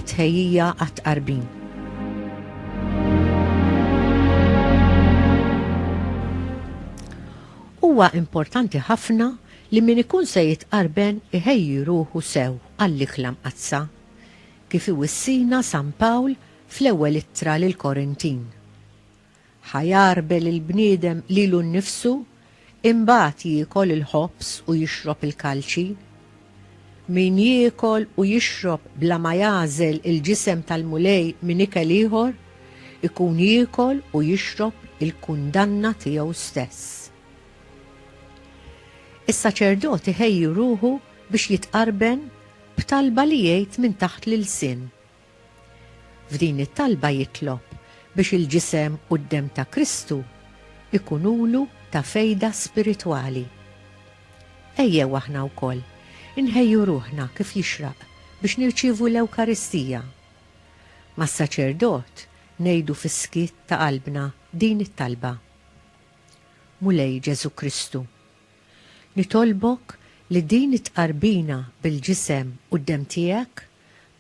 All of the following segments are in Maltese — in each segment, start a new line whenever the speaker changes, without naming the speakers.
it-tħejjija għat-tqarbin. Huwa importanti ħafna li min ikun se jitqarben iħejji ruħu sew għall-ikla mqaddsa. Kif iwissina San Pawl Fl-Ewwel Ittra lill-Korintin. Ħa jagħrbel il-bniedem lilu nnifsu, imbagħad jiekol il-ħobż u jixrob il-kalċi? Min jiekol u jixrob bla ma jagħżel il-ġisem tal-Mulej minn ikel ieħor, ikun jiekol u jixrob il-kundanna tiegħu stess. Is-saċerdot iħejji ruħu biex jitqarben b'talba li jgħid minn taħt l-ilsien, F'din it-talba jitlob biex il-Ġisem u d-Demm ta' Kristu jkunulu ta' fejda spiritwali. Ejjew aħna wkoll inħejju ruħna kif jixraq biex nirċievu l-Ewkaristija. Mas-saċerdot ngħidu fis-skiet ta' qalbna din it-talba, Mulej Ġesù Kristu, Nitolbok li din it-tqarbina bil-ġisem u d-demm tiegħek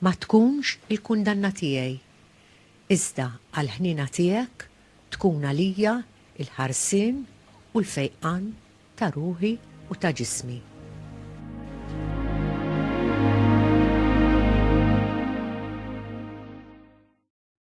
ma tkunx il-kundanna tiegħi, iżda għall-ħniena tiegħek tkun għalija l-ħarsien u l-fejqan ta' ruħi u ta' ġismi.